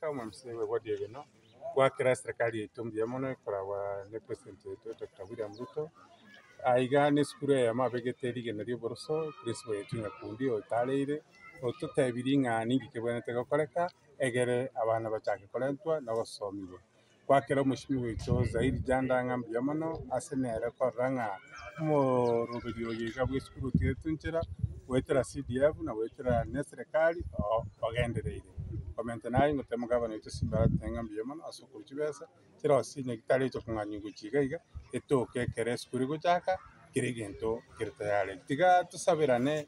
Omomisa oye bw'Ebodi eye no goakera eserekari yaito mbuya mono ekoragwa ne president yaito Doctor William Ruto. Aiga n'esukuru eyemo abegete rigena ri'oboroso, principal yaito Nyakundi otareire ototebirie ng'a ninki kebwenerete gokoreka egere abana bachake korentwa na ogosomigwa. Goakera omochenu goika o Zairi chanda ng'a mbuya mono ase nere korora ng'a omoroberi oye iga bwesukuru otigeretwe nchera goetera CDF na goetera ne serekari oo ogendereire. Komentana na ayio ngoteema gavana oito Simba aratete ng'a mbuya mono ase okorusia chibesa chire gose chinyagi taraichia kong'anywa gochi iga iga etoke ekero esukuru egochaka kera egento kere tayare. Tiga tosaberane.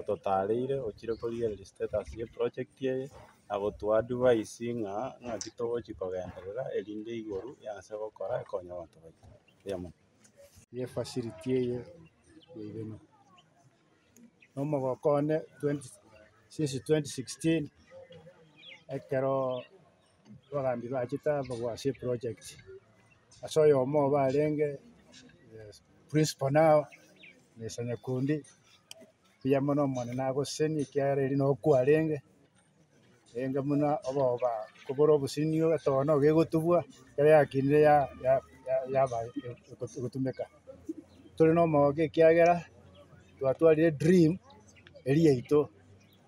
ototareire ochire korigereria status ye project eye na gotwoa advice ng'a ng'aki togochia kogenderera erinde igoro y'ase gokora ekonye abanto baito. Erio mono. Ye facility eye yairema na omogoko one twenty since twenty sixteen ekero. Abagaambi bachete ababua ase eproject, ase oyomo obo arenge principal na mr. Nyakundi, mbuya mono Omonene agosesenie ekiagera erio nokwo kwarenge, rende buna oboba kobore obosemi etono nigo egotubua, ekero yakinire ya ya ya yaba egotumeka. Tore na omogogo ekiagera twatwarire edream eria yaito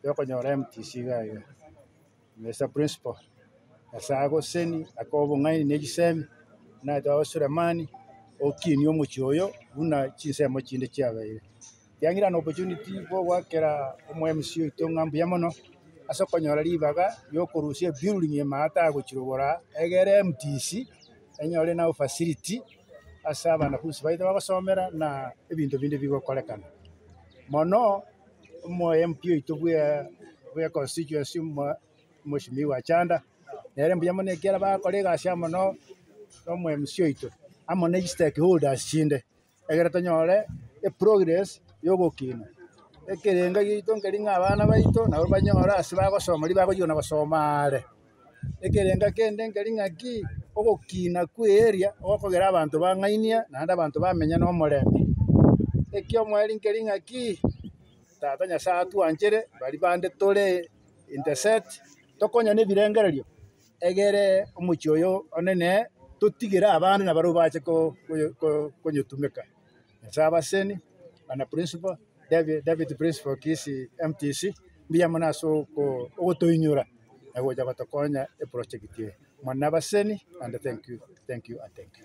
yokonyora MTC iga iga. Mister Principal, Nyasae agoseni ake obong'aini ne chisemi, naete oo Sulemani, okinie omochie oyo buna chinsemo chinde chiabeire. Kiang'ira an opportunity bw'ogoakera omo MC oito ng'a mbuya mono, ase okonyora ribaga riokorusia ebuilding ime aa atagochirobora aa, egere MTC, enyore nabo facility ase abanafunsi baito bagosomera na ebinto binde bigokorekana. Mono. omoyo MP oito bwe bwe constituency omo omoshimiwa Chanda, nere mbuya mono ekiagera bagakora egasi amo no nomo MC oito, amo ne chistake holders chinde, egere tonyore eprogress ya ogokina ekerengo giaito nkeri ng'a abana baito nabo banyore ase bagosoma ribagochia kona gosoma aare. Ekerengo ekende nkeri ng'aki, ogokina kwa earea ogokogera abanto bang'ainia naende abanto bamenya na omorembe. Ekiomweri nkeri ng'aki, tata Nyasae atwanchere bari bande tore in the set, tokonya na ebirengererio egere omochie oyo one neye, totigere abande nabarabwo bache ko- ko- konyetumeka. Ase abaseni, bana principal, deputy principal Kisii MTC, mbuya mono ase ogotoinyora na gocha gotokonya eproject eye mono na abaseni naende thank you, thank you and thank you.